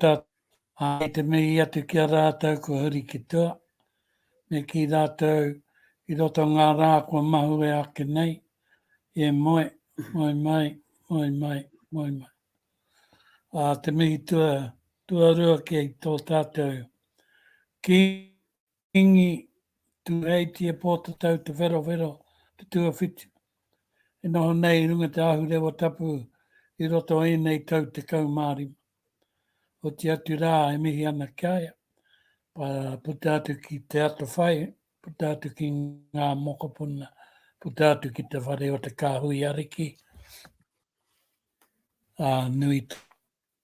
Ta, a, i te mihi atu ki a ratou kua huri ki tua, me ki ratou i roto o nga ra kua mahue ake nei, e moe, moe mai, moe mai, moe mai. A te mihi tua, tuarua ki to tatou ki Kīngi Tūheitia Pōtatau Te Wherowhero te tuawhitu e noho nei i runga te ahurewa tapu i roto o ēnei tau tekau mā rima. Oti atu rā e mihi ana ki a ia, puta atu ki te atawhai, puta atu ki ngā mokopuna, puta atu ki te whare o te kāhui ariki, ā, nui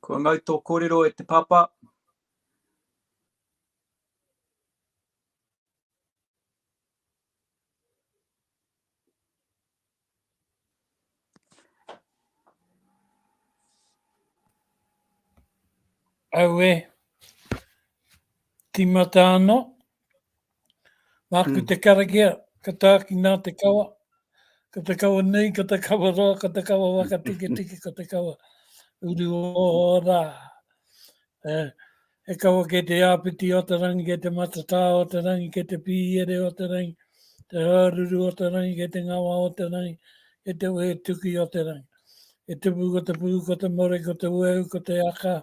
Kua mau tō kōrero e te pāpā. Aue, timata ano, Māku te karakia, ka tāki nā te kawa, ka te kawa nei, ka te kawa roa, ka te kawa waka tiki tiki, ka te kawa uru o rā. E, e kawa ke te āpiti o te rangi, ke te matatā o te rangi, ke te pīere o te rangi, te hāruru o te rangi, ke te ngawa o te rangi, ke te wehe tuki o te rangi. E te pū, ko te pū, ko te more, ko te wehu, ko te aka,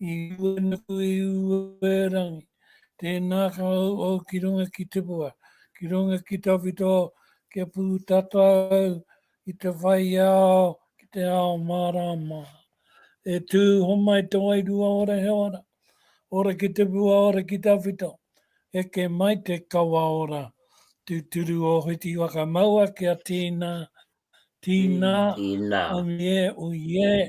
I ua nuku i ue rangi. Tēnā ka ū au ki runga ki Tipua, ki runga ki tawhito kia pū tata au i te whai ao ki te ao mārāma. E tū homai te wairua ora he ora, ora ki Tipua ora ki tawhito, eke mai te kawa ora, tūturu o Whiti Whakamaua kia tīnā, tīnā, tīnā, omiē, uiē,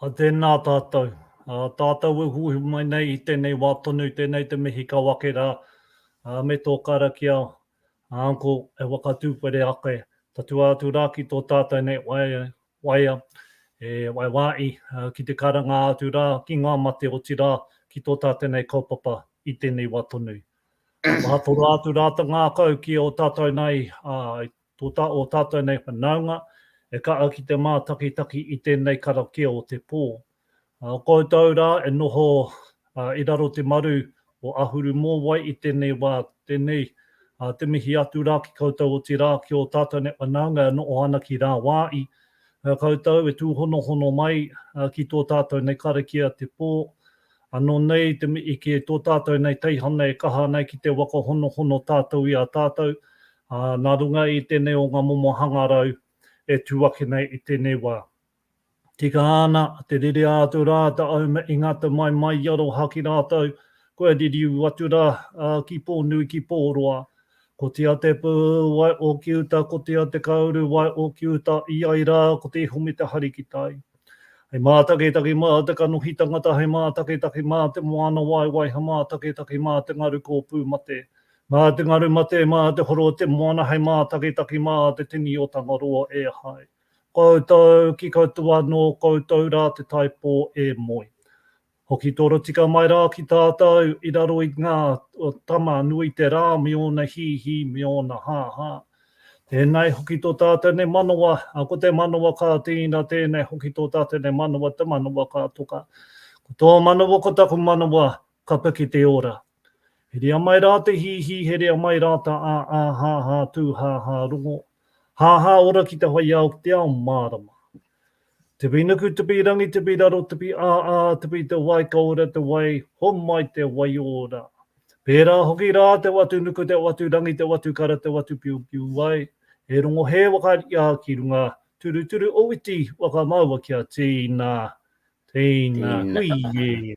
A tēnā tātou. A tātou e huihui mai nei i tēnei wā tonu, tēnei te mihi kau ake rā, ā, me tō karakia, a Uncle, e whakatūwhere ake tatua atu rā ki tō tātou nei waea, waea, e waewae ki te karanga atu rā ki ngā mate otirā ki tō tātou nei kaupapa i tēnei wā tonu. Maha toro atu rā ta ngākau ki ō tātou nei, ā, Tō tā ō tātou nei whanaunga e kaha ki te mātakitaki i tēnei karakia o te pō. Koutou rā e noho i raro te maru o Ahuru Mōwai i tēnei wā, tēnei te mihi atu rā ki koutou otirā ki ō tātou nei whanaunga e noho ana ki rāwāi koutou e tūhonohono mai ki tō tātou nei karakia te pō. Ano nei te i ki to tatou nei teihana e kaha ana ki te waka honohono tatou i a tatou, a, na runga i tenei o nga momo hangarau e tu ake nei i tenei wa. Tika ana te rere atu ra ta au me ingata mai mai i aroha ki ratou, kua ririu atu ra, a, ki Ponui ki Poroa. Ko tia te pu wai o ki uta ko tia te kauru wai o ki uta i ai ra ko te iho me te hari ki tai. He mātaketake mā te kanohi tangata, he mātaketake mā te moana waewae, he mātaketake mā te ngaru kōpū mate. Mā te ngaru mate, mā te horo o te moana, he mātaketake mā te tini o Tangaroa e hai. Koutou ki koutou anō, koutou rā te taipō e moe. Hoki torotika mai rā ki tātou i raro i ngā tama nui te rā me ōna hīhī, me ōna hāhā. Tēnei hoki tō tātou nei manawa, ko te manawa ka tīna, tēnei hoki tō tātou nei manawa, te manawa ka toka. Ko tō manawa, ko taku manawa, ka piki te ora. He rea mai rā te hīhī, he rea mai rā ta ā-ā, hā-hā tū, hā-hā rongo, hā-hā ora ki te whaiāo, ki te ao mārama. Te wī nuku, te wī rangi, te wī raro, te wī ā-ā, te wī te wai, ka ora te wai, homai te waiora. Pērā hoki rā te watu nuku, te watu rangi, te watu kara, te watu piupiu wai, he rongo hē wakaria ki runga, turuturu owiti wakamaua kia tīna, tīna, hui-ī.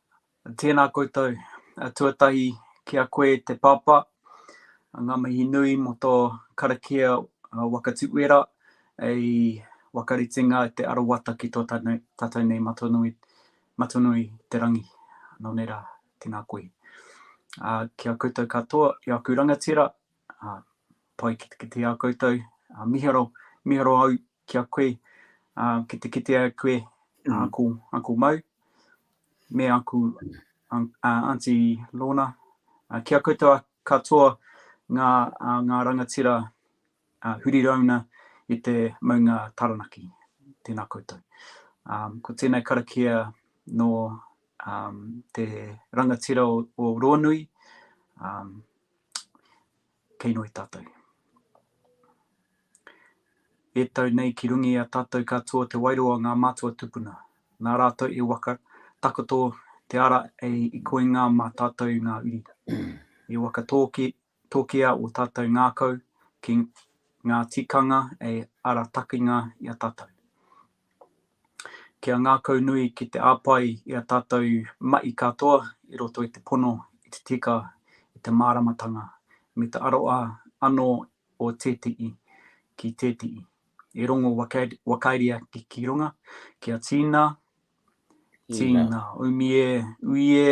Tēnā koutou, tuatahi ki a koe te Pāpā, ngā mihi nui mō tō karakia waka tuwera hei wakaritenga te arawata ki tō tātou nei Matonui, Matonui te Rangi. Nō nei rā, tēnā koe. Ā, ki a koutou katoa, i āku rangatira, pai ki te kitea koutou, miharo, miharo au ki a koe, ā, ki te kitea e koe aku, aku mau, me aku, ā, Aunty Lorna, ā, ki a koutou katoa ngā, ā, ngā rangatira, ā, huri rauna i te maunga Taranaki. Tēnā koutou. Ā, ko tēnei karakia nō, ā, te rangatira o, o Ronui, ā, Kei noe tatou. E tau nei ki runga i a tatou katoa te wairua o nga matua tupuna, na ratou e waka takoto te ara i koinga ma tatou nga uri. E waka tokia o tatou ngakau ki nga tikanga e ara takinga i a tatou. Kia ngākaunui ki te āpae i a tātou mahi katoa i roto i te pono i te tika i te māramatanga me te aroa anō o tētehi ki tētehi. E rongo wakaeria ki runga, kia tīna, tīna, umi e, ui e,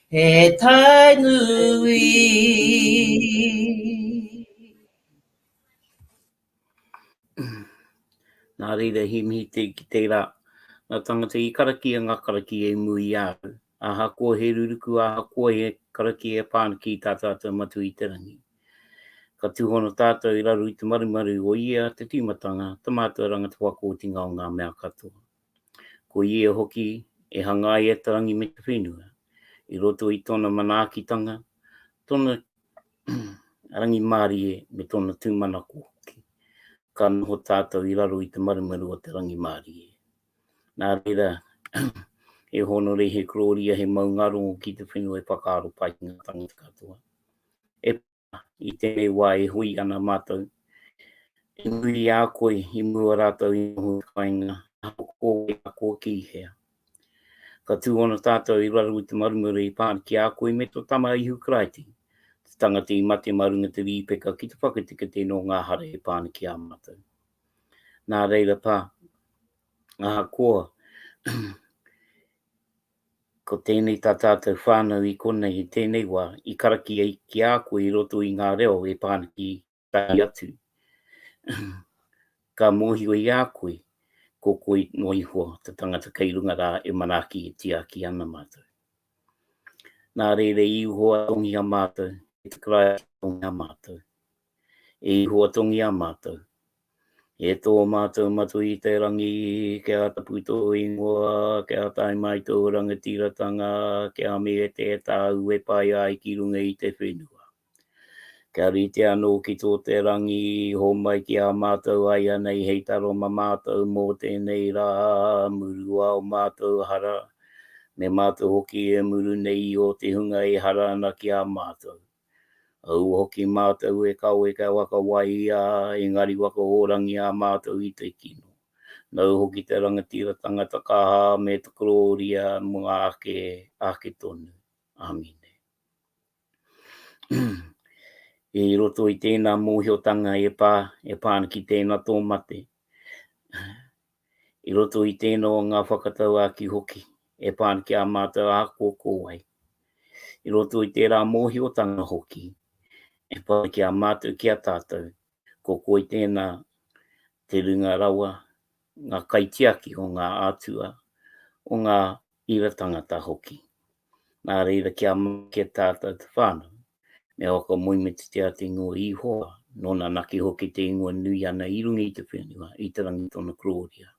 He tai nui. Nā reira he mihi te ki tērā. Nā tangata i karaki e ngā karaki e imu i a au. Ahakoa he ruruku, ahakoa he karaki e pā ana ki tā tātou matua i te rangi. Ka tūhono tātou i raro i te marumaru o ia te tīmatanga, te mātua ranga, te whakawhitinga o ngā mea katoa. Ko ia hoki e hangaia te rangi me te whenua, i roto i tōna manaakitanga, tōna rangimārie me tōna tūmanako hoki. Ka noho tātou i raro i te marumaru o te rangimārie. Nā reira, he hōnore, he kororia, he maungaro ki te whenua e whakaaro pai ki ngā tāngata katoa. E i tēnei wā e hui ana mātou. E nui i a koe i mua rātou i noho i whainga, ahakoa wai a koe ki hea. Ka tū ona tātou i raro i te marumare i pāna ki a koe me tō Tama Ihu Karaiti, te tangata i mate mā runga te rīpeka ki te whakateketē nō ngā hara e pā ana ki a mātou. Nā reira pā, ahakoa Ko tēnei tā tātou whānau i konei i tēnei wā, i karakia ki a koe i roto i ngā reo e pā ana ki tahi atu. Ka mōhio i a koe, ko koe noa iho te tangata kei runga rā e manaaki e tiaki ana mātou. Nā reira i Ihowa tongiha mātou, e te Karaiti tongiha mātou. I huatongia mātou. E tō mātou matū i te rangi, kia tapu tō ingoa, kia tae mai tō rangatiratanga, kia mehete e tāu e pai ai ki runga i te whenua. Kia rite anō ki tō te rangi, homai ki a mātou aianei hei taro ma mātou mō tēnei rā, murua o mātou hara, me mātou hoki e muru nei i ō te hunga e hara ana ki a mātou. Aua hoki mātou e kawe kia waka waia engari waka hōrangi ā mātou i te kino. Nau hoki te rangatira tangata kaha me te korōria mō ngā ake ake tonu. Amine. I roto i tēnā mōhiotanga e pā, e pā ana ki tēnā tō mate. I roto i tēnō ngā whakatauākī hoki e pā ana ki ā mātou āhua ko wai. I roto i tērā mōhiotanga hoki e pā ana ki a mātou ki a tātou, ko koi tēnā te runga rawa, ngā kaitiaki o ngā ātua, o ngā Reira tangata hoki. Nā reira kia make tātou te whānau, me oko moemititia te ingoa Ihowa, nōna naki hoki te ingoa nui ana i runga i te whenua, i te rangi tōna kororia.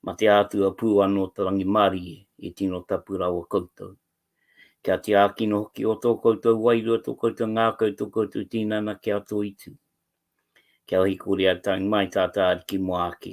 Ma te ātua pū anō te rangimārie, i tino tapu rawa koutou. Kia tiakina hoki o tō koutou wairua, tō koutou ngākau, tō koutou tīnana ki a Toitū. Kia hikore a Taimai tā tā Ariki mō ake,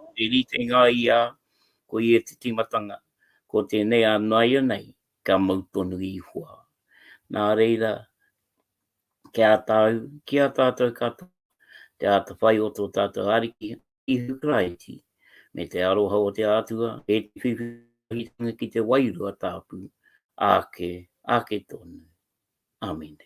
Ko te ritenga i a, ko ia te timatanga, ko tenei a naianei ka mau tonu ihua. Na reira, ki a tau, ki a tatou katoa, te atawhai o to tatou Ariki, Ihu Karaiti, me te aroha o te Atua, e te whiwhi wahitanga ki te Wairua Tapu, ake, ake tonu. Amene.